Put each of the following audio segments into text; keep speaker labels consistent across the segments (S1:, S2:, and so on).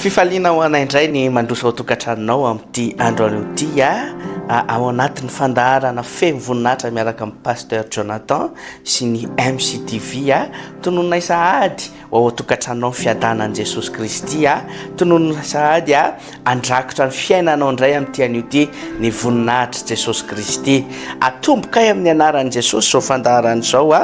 S1: Fifaliana ho anay indray ny mandroso ao an-tokantranonao amin'ity andro anio ity a, ao anatin'ny fandaharana feno voninahitra miaraka amin'i Pasteur Jonathan sy ny MCTV a. Tonononay sahady ho ao an-tokantranonao ny fiadanan'i Jesosy Kristy a. Tonononay sahady a. Andrakotra ny fiainanao indray amin'ity anio ity ny voninahitr'i Jesosy Kristy. Atombokay amin'ny anaran'i Jesosy izao fandaharana izao a.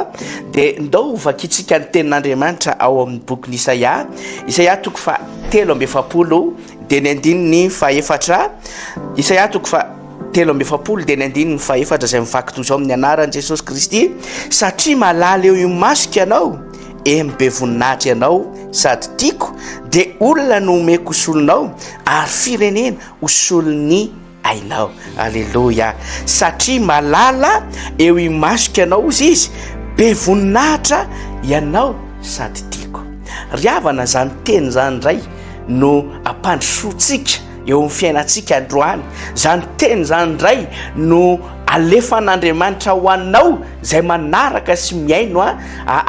S1: Dia ndao ho vakintsika ny tenin'Andriamanitra ao amin'ny bokin'i Isaia. Isaia toko fa telo amby efapolo dia ny andininy fa efatra. Isaia toko fa telo amby efapolo dia ny andininy fa efatra izay mivaky toy izao amin'ny anaran'i Jesosy Kristy. Satria malala eo imasoko ianao Eny be voninahitra ianao sady tiako dia olona no omeko solonao ary firenena ho solon'ny ainao aleloia satria malala eo imasoko ianao ozy izy be voninahitra ianao sady tiako ry havana zany teny zany indray no ampandrosoantsika eo amin'ny fiainantsika androany. Izany teny izany indray no alefan'Andriamanitra ho anao izay manaraka sy mihaino a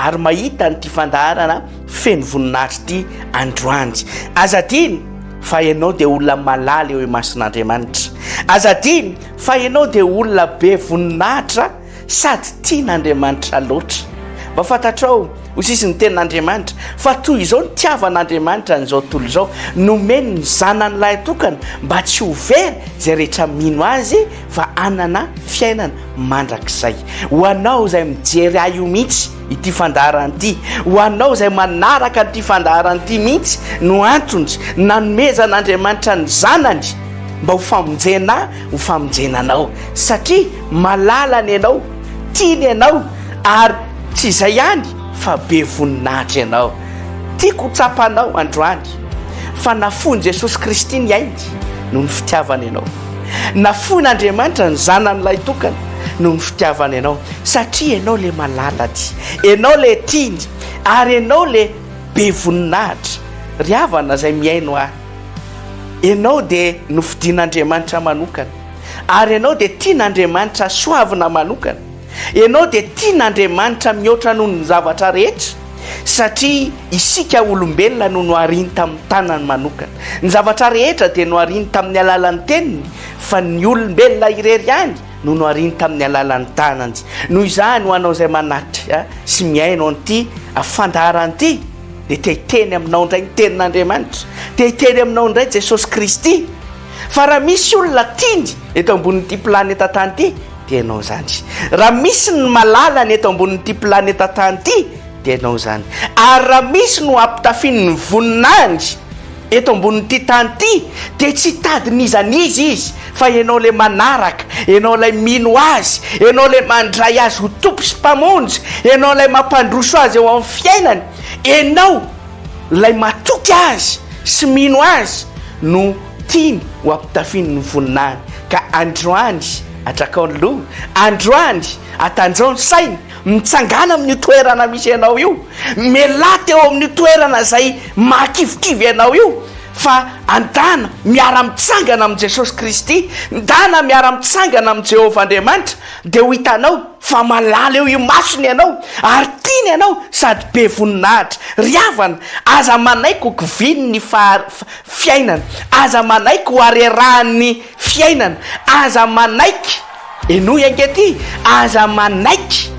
S1: ary mahita an'ity fandaharana feno voninahitra ity androany. Aza adino fa ianao dia olona malala eo imason'Andriamanitra. Aza adino fa ianao dia olona be voninahitra. Sady tian' Andriamanitra loatra. Mba fantatrao, hoy sisa ny tenin' Andriamanitra, fa toy izao ny tiavan' Andriamanitra an'izao tontolo izao, nomeny ny Zanany Lahitokana, mba tsy ho very izay rehetra mino Azy, fa hanana fiainana mandrakizay. Ho anao izay mijery ahy io mihitsy ity fandaharana ity, ho anao izay manaraka an'ity fandaharana ity mihitsy no antony nanomezan' Andriamanitra ny Zanany mba ho famonjena ho famonjena anao satria malalany ianao, tiany ianao ary tsy izay ihany fa be voninahitra ianao. Tiako ho tsapanao androany fa nafoin'i Jesosy Kristy ny ainy noho ny fitiavany ianao. Nafoin'Andriamanitra ny Zanany Lahitokana noho ny fitiavany ianao satria ianao ilay malalany, ianao ilay tiany ary ianao ilay be voninahitra. Ry havana izay mihaino ahy, Ianao dia nofidin'Andriamanitra manokana, ary ianao dia tian'Andriamanitra soavina manokana. Ianao dia tian'Andriamanitra mihoatra noho ny zavatra rehetra, satria isika olombelona no nohariny tamin'ny tanany manokana. Ny zavatra rehetra dia nohariny tamin'ny alalan'ny teniny, fa ny olombelona irery ihany no nohariny tamin'ny alalan'ny tanany. Noho izany, ho anao izay manatri sy mihaino an'ity fandaharana ity, dia te hiteny aminao indray ny tenin'Andriamanitra, te hiteny aminao indray Jesosy Kristy. Fa raha misy olona tiany eto ambonin'ity planeta tany ity dia ianao izany. Raha misy ny malala ny eto ambonin'ity planeta tany ity dia ianao izany. Ary raha misy no ampitafian'ny voninahiny Eto ambonin'ity tany ity dia tsy hitady n'iza n'iza izy fa ianao ilay manaraka, ianao ilay mino azy, ianao ilay mandray azy ho Tompo sy Mpamonjy, ianao ilay mampandroso azy eo amin'ny fiainany, ianao ilay matoky azy sy mino azy no tiany ho ampitafiny ny voninahiny. Ka androany atrakao ny loha, androany atanjao ny saina, Mitsangàna amin'io toerana misy anao io, mialà teo amin'io toerana izay mahakivikivy anao io, fa andana miara-mitsangana amin'i Jesosy Kristy, ndana miara-mitsangana amin'i Jehovah Andriamanitra, dia ho hitanao fa malala eo imasony ianao, ary tiany ianao sady be voninahitra. Ry havana, aza manaiky ho kivinin'ny fiainana, aza manaiky ho harerahan'ny fiainana, aza manaiky. Henoy ankety, aza manaiky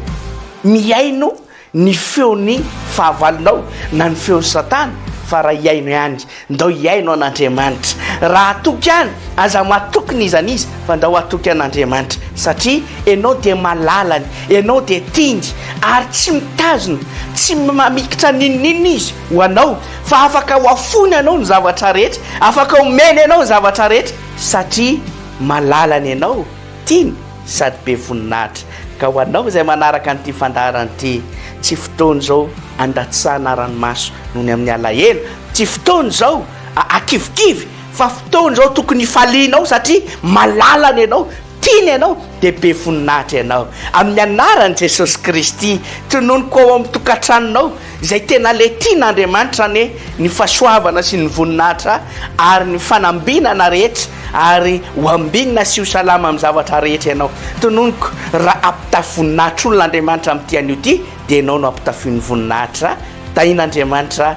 S1: mihaino ny feon'ny fahavalonao na ny feon'i Satana fa raha hihaino ihany, ndao hihaino an'Andriamanitra. Raha hatoky any, aza matoky n'iza n'iza fa ndao hatoky an'Andriamanitra satria ianao dia malalany, ianao dia tiany ary tsy mitazona, tsy mamikitra n'inon'inona izy ho anao fa afaka hoafoiny anao ny zavatra rehetra, afaka omeny anao ny zavatra rehetra. Satria malala ny anao, tiany sady be voninahitra. Ka ho anao izay manaraka an'ity fandaharana ity, tsy fotoana izao andatsahana ranomaso noho ny amin'ny alahelo, tsy fotoana izao akivikivy fa fotoana izao tokony hifalianao satria malala ny anao, Tiany ianao dia be voninahitra ianao. Amin'ny anaran'i Jesosy Kristy, tononiko ao amin'ny tokantranonao izay tena le tian'Andriamanitra anie ny fahasoavana sy ny voninahitra ary ny fanambinana rehetra ary ho ambinina sy ho salama amin'ny zavatra rehetra ianao. Tononiko raha ampitafy voninahitr'olona Andriamanitra amin'ity anio ity dia ianao no ampitafiony voninahitra. Tahin'Andriamanitra.